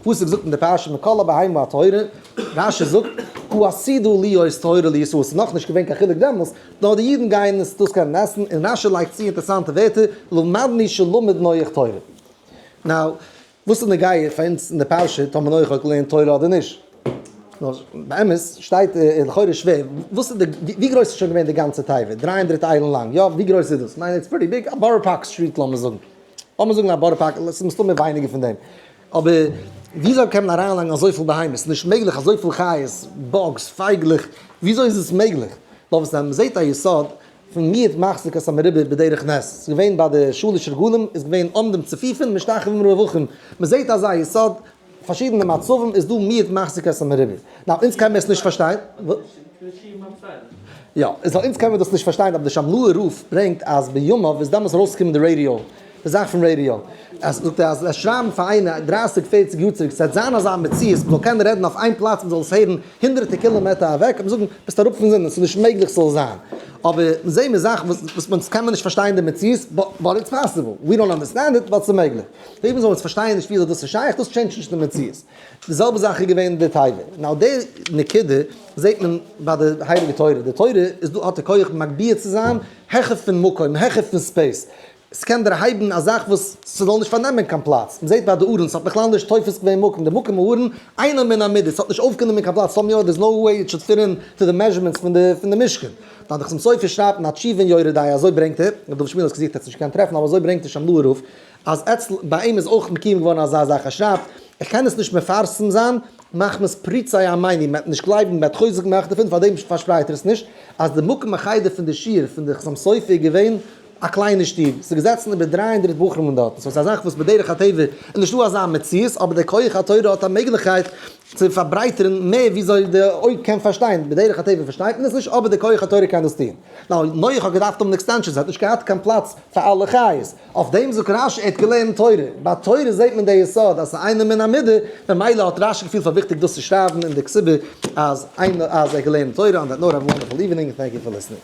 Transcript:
פסוק זאגט אין די פרשה מכל הבהמה הטהורה, רשי זאגט הוא הסידור להיות טהור לישראל, ס'איז נאכנישט געווען קיין חילוק דעמאלס, נאר די אידן גייען עס דאס קענען עסן, און רשי לייגט צו אינטערעסאנטע ווערטער, למדני שלמד נח תורה. נאו, וואס איז נוגע פאר אונז אין די פרשה טאמער נח האט געלערנט תורה אדער נישט? נאר באמת שטייט לכאורה שווער, וואס איז די, ווי גרויס איז שוין געווען די גאנצע תיבה? דריי הונדרעט איילן לאנג, יא? ווי גרויס איז דאס? כ'מיין איטס פריטי ביג, א בארא פארק סטריט לאמיר זאגן. לאמיר זאגן א בארא פארקער, עס איז מסתמא ווייניגער פון דעם, אבער וויאזוי קען מען אריינלייגן אזויפיל בהמות, ס'איז נישט מעגליך, אזויפיל חיות, באגס, פייגלעך, וויאזוי איז עס מעגליך? נאר וואס מען זעט א יסוד, פון מיעוט מחזיק את המרובה בדרך נס, עס איז געווען ביי די שלש רגלים איז געווען עומדים צפופים משתחווים רווחים, מען זעט אזא יסוד פארשידענע מצבים איז דא מיעוט מחזיק את המרימים. נאו אונז קען מיר עס נישט פארשטיין. יא, איז אונז קען מיר דאס נישט פארשטיין אבער די שמלא'ער רב ברענגט אז בימיו איז דעמאלס ארויסגעקומען די רעדיא, די זאך פון רעדיא. אז זאגט ער אז וועסט שרייבן פאר איינער דרייסיג פערציג יאר צוריק ס'וועט זיין אזא מציאות מ'זאל קענען רעדן אויף איין פלאץ מ'זאל עס הערן הונדרעטע קילאמעטער אוועק וועט מען זאגן ביסט אראפ פון זינען ס'איז נישט מעגליך ס'זאל זיין. אבער זעהן מיר זאכן וואס אונז קען מיר נישט פארשטיין די מציאות באט איטס פאסיבל. ווי דאנט אנדערסטענד איט באט ס'מעגליך. לעבן זאל עס פארשטייען נישט וויאזוי דאס איז שייך דאס טשעינדזשט נישט די מציאות די זעלבע זאך איז געווען די תיבה נאו די נקודה זעהט מען ביי די הייליגע תורה די תורה איז דא האט די כח מגביה צו זיין העכער פון מקום העכער פון ספעיס ס'קען דערהייבן א זאך וואס ס'זאל נישט פארנעמען קיין פלאץ מ'זעהט ביי די ארון ס'האט בכלל נישט תופס געווען מקום די מקום ארון אינו מן המידה ס'האט נישט אויפגענומען קיין פלאץ סאמהאו דער איז נאו וועי איט שוד פיט אין טו די מעזשערמענטס פון די פון די משכן דאן דאך צום סוף איז שרייבט אין א תשובה אין יורה דעה אזוי ברענגט ער דוב שמיל האט עס געזוכט ער האט עס נישט געקענט טרעפן אבער אזוי ברענגט ער שם לו ערוך. אז אצל ביי אים איז אויך מקיום געווארן אזא זאך, ער שרייבט, איך קען עס נישט מפרסם זיין מחמת פריצי עמיני, מען וועט נישט גלייבן, מען וועט חוזק מאכן דערפון, פארדעם פארשפרייט ער עס נישט, אז די מקום החדר פון די שיעור פון די חתם סופר איז געווען א קליינע שטוב, ס'איז געזעצן איבער דרײַ הונדערט בחורים אין דארטן, סאו ס'איז א זאך וואס בדרך הטבע איז נישטא אזא מציאות, אבער דער כח התורה האט א מעגליכקייט צו פארברייטערן מער וויאזוי די אויג קען פארשטיין, בדרך הטבע פארשטייט מען עס נישט, אבער דער כח התורה קען דאס טון. נאך נח האט געדארפט האבן עקסטענשאן, ס'האט נישט געהאט קיין פלאץ פאר אלע חיות. אויף דעם זאגט רש י ער האט געלערנט תורה, ביי תורה זעט מען די יסוד אז ס'איז איינער מן המידה, ממילא האט רש י געפילט פאר וויכטיג דאס צו שרייבן אין די כסובה אז איינער אז ער האט געלערנט תורה און דעט נאו אוו וואנדערפול איווענינג און טענק יו פאר ליסטענינג.